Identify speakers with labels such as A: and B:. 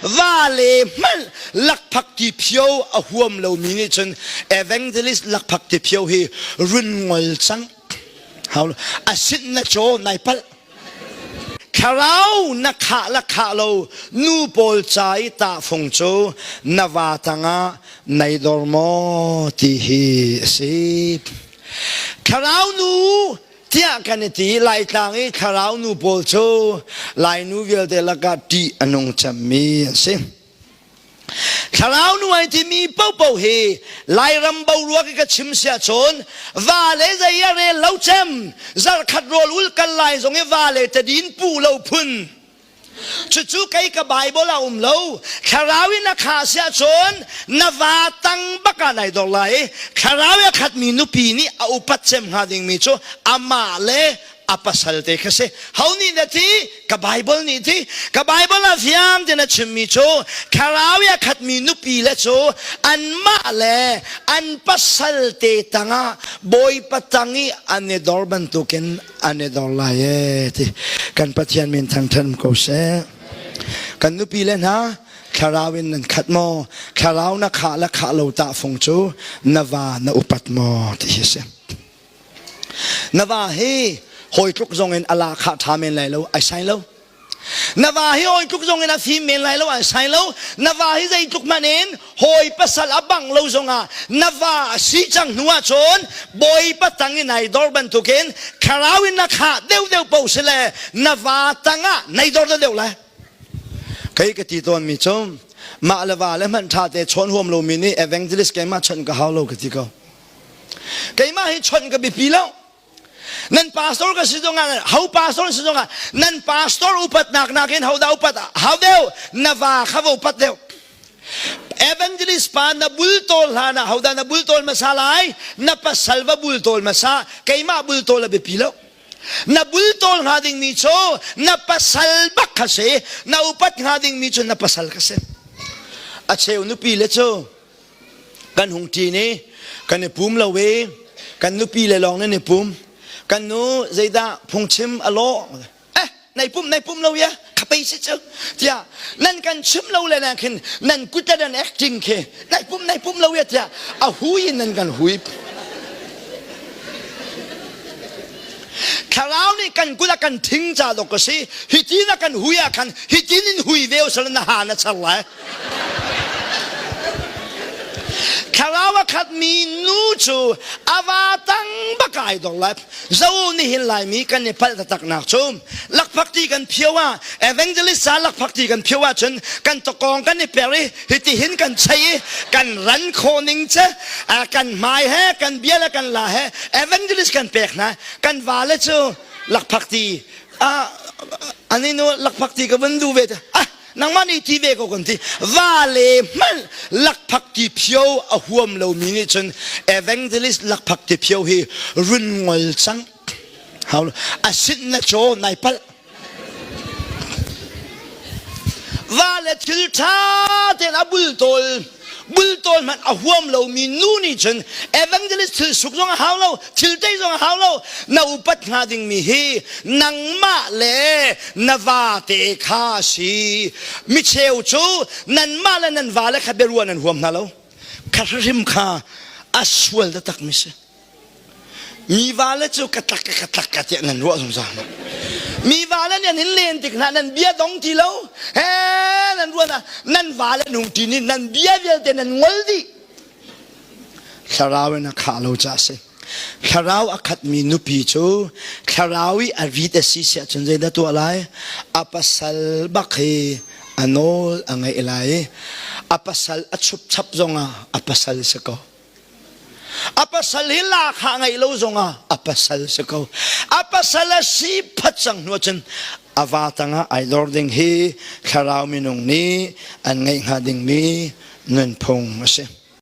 A: vale hmanh lakphak ti phio a huam lomi nih cun evangelist lakphak ti phio hi run ngol cang hau asin na chaw nai palh thlarau na khah la khah lo nu pawl ca i tahfung cu na va tangah nei dor maw ti hi a si thlarau nu tiah kan i ti laitlang i thlarau nu pawl cu lainu vialte lakah ṭih a nung cemmi an si thlarau nu ai timi popo hi lairam boruak i ka chim sia cun va le zei a rel lo cem zarkhat rual ul kal lai zong i va le tadin pu lo phun cucu kei ka bible a um lo thlarau in a kha si ahcun na va tang bak ah nai dor lai thlarau a khat mi nupi nih a upat cem hnga ding mi cu amah le a pasal te kha si ho nih na ti ka bible nih ti ka bible a fiang tiin a chim mi cu thlarau a khat mi nupi le cu anmah le an pasal te tangah bawipa tang i an i dor bantukin an i dor lai e ti kan pathian min thangthan ko seh kan nupi le hna thlarau in nan khat maw thlarau na khah la khah lo ta fung cu na va na upat maw ti hi si na va hi hawi tluk zong in ala khah tha men lai lo ai sai lo na va hi hawi tluk zong in a fim men lai lo an sai lo na va hi zei tluk hmanh in hawi pasal a bang lo zong ah na va a si cang hnu ah cun bawipa tang in ai dor bantuk in kharau in na khah deuh deuh po si le na va tang ah nei dor deuh deuh lai kei ka ti tawn mi cu mah le va le hmanh ṭha te chawn huam lo mi nih evangelist keimah chawnh ka hau lo ka ti ko keimah hi chawnh ka biapi lo nan pastor ka si zong ah ho pastor si zong ah nan pastor upatnak nakin hodah upat hau deu na va kha vo upat deu evangelist pa na bultawl hlan ah hodah na bultawl masa lai na pasal va bultawl masa keimah bultawl a biapi lo na bultawl hnga dingmi cu na pasal bak ka si na upat hnga dingmi cu na pasal ka si a cheu nupi le cu kan hung ṭin i kan i pum lo i kan nupi le lawng nan i pum kan nu zeidah phungchim a lawh eh nai pum nai pum lo ya khapei si cu tiah nan kan chim lo le na khin nan kut le nan acting khi nai pum nai pum lo ya tiah a hui in nan kan hui thlarau nih kan kut a kan thing ca dok ka si hi tin a kan hui ah khan hi tin in hui ve u sal na ha na char lai Thlarau a khatmi nu cu a va tang bak ai dong lai. Zo nih hin laimi kan i palh taktaknak cu lakphak ti kan phio ah evangelist sa lakphak ti kan phio ahcun kan tokong kan i per i hiti hin kan chei i kan ran khawh ning ce kan hmai he kan bia le kan la he evangelist kan pek hna kan vale cu lakphak ti ah aninu lakphak ti ka vun duh ve ah nangmah nih ti ve ko kan ti va le mal lakphak ti phio a huam lomi nih cun evangelist lakphak ti phio hi run ngol cang hau a sit na chaw nai palh va le thil ṭha ten a bul tawl bultawl hmanh a huam lomi nu nih cun evangelist thil suk zong a hau lo thil tei zong a hau lo na upat hnga dingmi hi nangmah le na vate kha si micheu cu nanmah le nan vale kha biaruah nan huam hna lo kha hrim kha a sual takmi si Mi vale cu ka tlak ka tlak ka tiah nan ruah zungzal ma mi vale nih nan len tik hna nan bia dong ti lo he nan ruan ah nan vale nung ti nih nan bia vialte nan ngol dih thlarau in a khah lo ca si thlarau a khat mi nupi cu thlarau i a rit a si siah cun zeidah tuah lai a pasal bak hi a nawl a ngaih lai i a pasal a chup chap zong ah a pasal si ko a pasal hi lahkhah ngeih lo zongah a pasal si ko a pasal a si phat cang hnu cun a va tangah ai lor ding hi thlarau minung nih an ngeih hnga dingmi nunphung a si